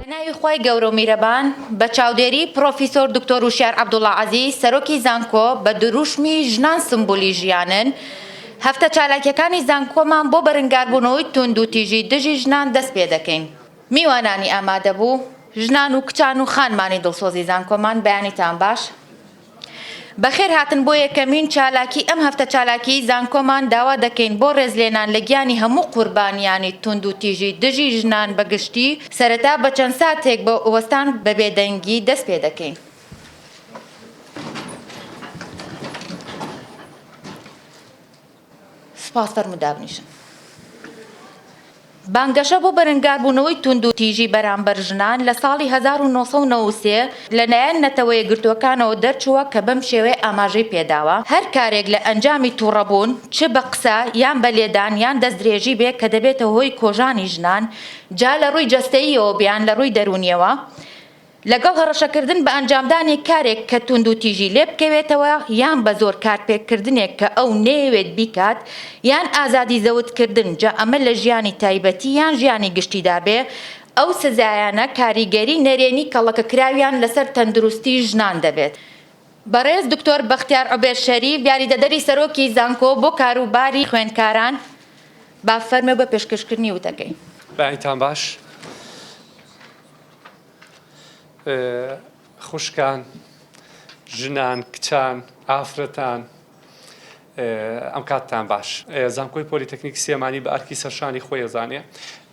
بەناوی خوای گەورە و میرەبان بە چاودێری پڕۆفیسۆر دکتۆر وشیار عەبدوڵا عەزیز سەرۆکی زانکۆ بە دروشمی ژنان سمبولی ژیانن هەفتە چالاکیەکانی زانکۆمان بۆ بەرنگاربوونەوەی توندوتیژی دژی ژنان دەست پێدەکەین. میوانانی ئامادەبوو، ژنان و کچان و خانمانی دڵسۆزی زانکۆمان بەیانیتان باش. بەخێر هاتن بۆ یەکەمین چالاکی ئەم هەفتە چالاکیی زانکۆمان داوا دەکەین بۆ ڕێزلێنان لە گیانی هەموو قوربانیانی توندوتیژی دژی ژنان بە گشتی سەرەتا بە چەند ساتێک بە وەستان بە بێدەنگی دەست پێ دەکەین. سپاس فەرموو دابنیشن. بانگەشە بۆ بەرەنگاربوونەوەی توندوتیژی بەرامبەر ژنان لە ساڵی هەزار و نۆ سەد و نەوەد و سێ لەلایەن نەتەوەیەکگرتووەکانەوە دەرچووە کە بەم شێوەیە ئاماژەی پێداوە، هەر کارێک لە ئەنجامی توڕەبوون چ بە قسە یان بە لێدان یان دەستدرێژی بێ کە دەبێتە هۆی کۆژانی ژنان جا لە ڕووی جەستەییەوە بیان لە ڕووی دەروونیەوە، لەگەڵ هەڕەشەکردن بە ئەنجامدانی کارێک کە توندوتیژی لێ بکەوێتەوە یان بە زۆر کارپێکردنێک کە ئەو نەیەوێت بیکات یان ئازادی زەوتکردن جا ئەمە لە ژیانی تایبەتی یان ژیانی گشتیدا بێ ئەو سزایانە کاریگەری نەرێنی کەڵەکەکراویان لەسەر تەندروستی ژنان دەبێت. بەڕێز دکتۆر بەختیار عوبێد شەریف یاریدەدەری سەرۆکی زانکۆ بۆ کاروباری خوێندکاران با فەرمێ بۆ پێشکەشکردنی وتەکەی. بەئایتان باش. خوشکان، ژنان، کچان، ئافرەتان ئەم کاتتان باش. زانکۆی پۆلیتەکنیکی سلێمانی بە ئەرکی سەرشانی خۆی ئەزانێ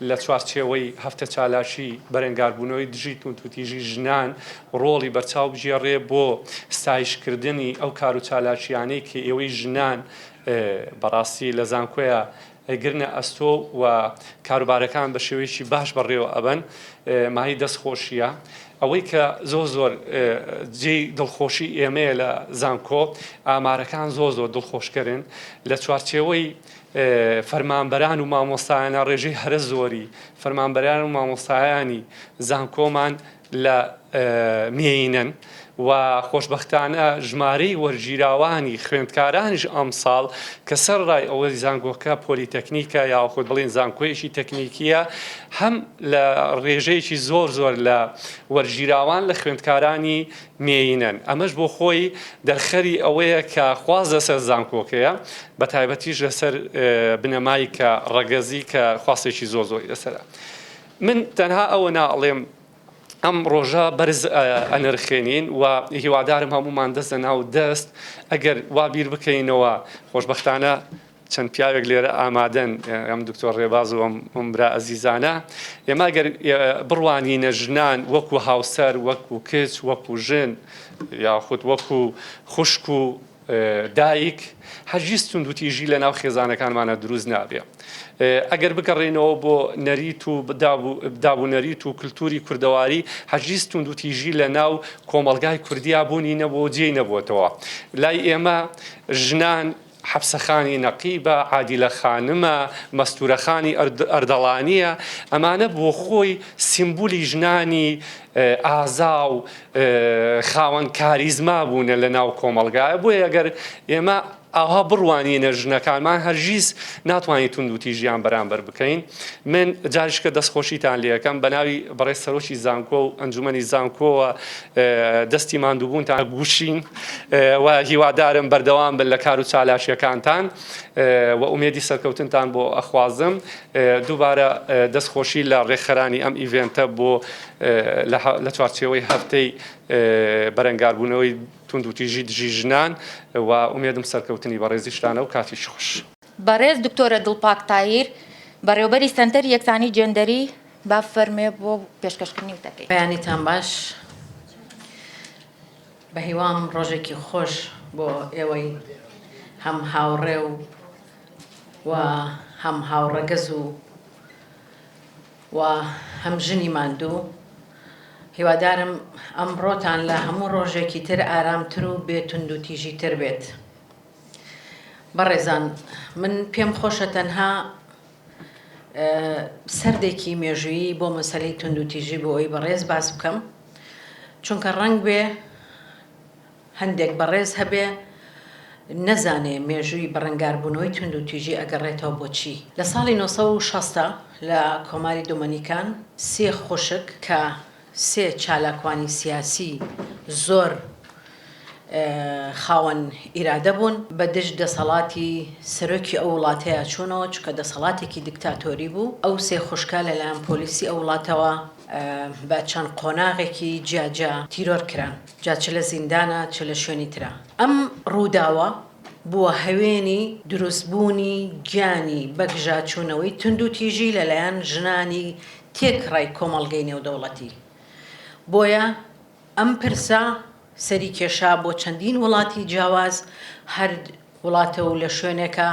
لە چوارچێوەی هەفتە چالاکی بەرەنگاربوونەوەی دژی توندوتیژی ژنان ڕۆڵی بەرچاو بگێڕێ بۆ ستایشکردنی ئەو کاروچالاکییانەی کە ئێوەی ژنان بەڕاستی لە زانکۆیە گرنە ئەستۆ و کاروبارەکان بە شێوەیەکی باش بەڕێوە ئەبەن مایەی دەست خۆشیە ئەوەی کە زۆر زۆر جێی دڵخۆشی ئێمەیە لە زانکۆ ئامارەکان زۆر زۆر دڵخۆشکەرن لە چوارچێوەی فەرمانبەران و مامۆستایانە ڕێژەی هەرە زۆری فەرمانبەران و مامۆستایانی زانکۆمان لە مێینەن و خۆشبەختانە ژمارەی وەرگیراوانی خوێندکارانیش ئەمساڵ کە سەرەڕای ئەوەی زانکۆکە پۆلیتەکنیکە یاخود بڵێن زانکۆیەکی تەکنیکیە هەم لە ڕێژەیەکی زۆر زۆر لە وەرگیراوان لە خوێندکارانی مێینەن ئەمەش بۆ خۆی دەرخەری ئەوەیە کە خواز لەسەر زانکۆکەیە بە تایبەتیش لەسەر بنەمای کە ڕەگەزی کە خواستێکی زۆر زۆری لەسەرە. من تەنها ئەوە ناڵێم ئەم ڕۆژە بەرز ئەنرخێنین و هیوادارم هەمومان دەست لە ناو دەست ئەگەر وا بیر بکەینەوە خۆشببختانە چەند پیاوێک لێرە ئامادەن ئەم دکتۆر ڕێباز و ئەم برا ئەزیزانە ئێمە گەر بڕوانینە ژنان وەکو هاوسەر وەکو کچ وەکو ژن یاخود وەکو خوشک و دایک، هەرگیز توندوتیژی لەناو خێزانەکانمانا دروست نابێ. ئەگەر بگەڕێینەوە بۆ نەریت و داب و نەریت و کلتوری کوردەواری، هەرگیز توندوتیژی لەناو کۆمەڵگای کوردیا بوونی نەبووە و جێی نەبۆتەوە. لای ئێمە ژنان، حەپسە خانی نەقیبە، عادیلە خانمە، مەستورە خانی ئەردەڵانییە، ئەمانە بۆخۆی سیمبولی ژنانی ئازا و خاوەن کاریزما بوونە لە ناو کۆمەڵگایە بۆیە ئەگەر ئێمە ئاها بڕوانینە ژنەکانمان هەرگیز ناتوانین توندوتیژیان بەرامبەر بکەین من جاریشکە دەستخۆشیتان لەکەم بە ناوی بەڕێز سەرۆکی زانکۆ و ئەنجومەنی زانکۆوە دەستی ماندووبوونتان گوشین و هیوادارم بەردەوام بن لە کار و چالاکیەکانتان و ئومێدی سەرکەوتنتان بۆ ئەخوازم دووبارە دەست خۆشی لە ڕێکخەرانی ئەم ئیڤێنتە بۆ لە چوارچێوەی هەفتەی بەرەنگاربوونەوەی توندوتیژی دژی ژنان و ئومێدم سەرکەوتنی بەڕێزیشتانە و کاتیشی خوش. بەڕێز دکتۆرە دڵپاک تاهیر، بەڕێوەبەری سەنتەری یەکسانی جێندەری، بفەرموێ بۆ پێشکەشکردنی وتەکەی. بەیانیتان باش، بەهیوام ڕۆژێکی خۆش بۆ ئێوەی هەم هاوڕێ و و هەم هاوڕەگەز و و هەم ژنی ماندوو هیوادارم ئەمڕۆتان لە هەموو ڕۆژێکی تر ئارامتر و بێ توندوتیژی تر بێت بەڕێزان من پێم خۆشە تەنها سەردێکی مێژویی بۆ مەسلەی توندوتیژی بۆ ئەوی بەڕێز باس بکەم چونکە ڕەنگ بێ هەندێک بەڕێز هەبێ نەزانێ مێژووی بەڕەنگاربوونەوەی توندوتیژی ئەگەڕێتەوە بۆ چی؟ لە ساڵی نۆ سەد و شەست لە کۆماری دۆمەنیکان سێ خوشک کە سێ چالاکوانی سیاسی زۆر خاوەن ئیرادە بوون بە دژ دەسەڵاتی سەرۆکی ئەو وڵاتەیا چوونەوە چونکە دەسەڵاتێکی دیکتاتۆری بوو. ئەو سێ خوشکە لەلایەن پۆلیسی ئەو وڵاتەوە بە چەند قۆناغێکی جیاجیا تیرۆر کران. جا چ لە زیندانە چ لە شوێنی ترا. ئەم ڕووداوە بووە هەوێنی دروستبوونی گیانی بەگژاچوونەوەی توندوتیژی لەلایەن ژنانی تێکڕای کۆمەڵگەی نێودەوڵەتی. بۆیە ئەم پرسە سەری کێشا بۆ چەندین وڵاتی جیاواز، هەر وڵاتە و لە شوێنێکە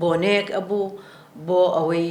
بۆنەیەک ئەبوو بۆ ئەوەی،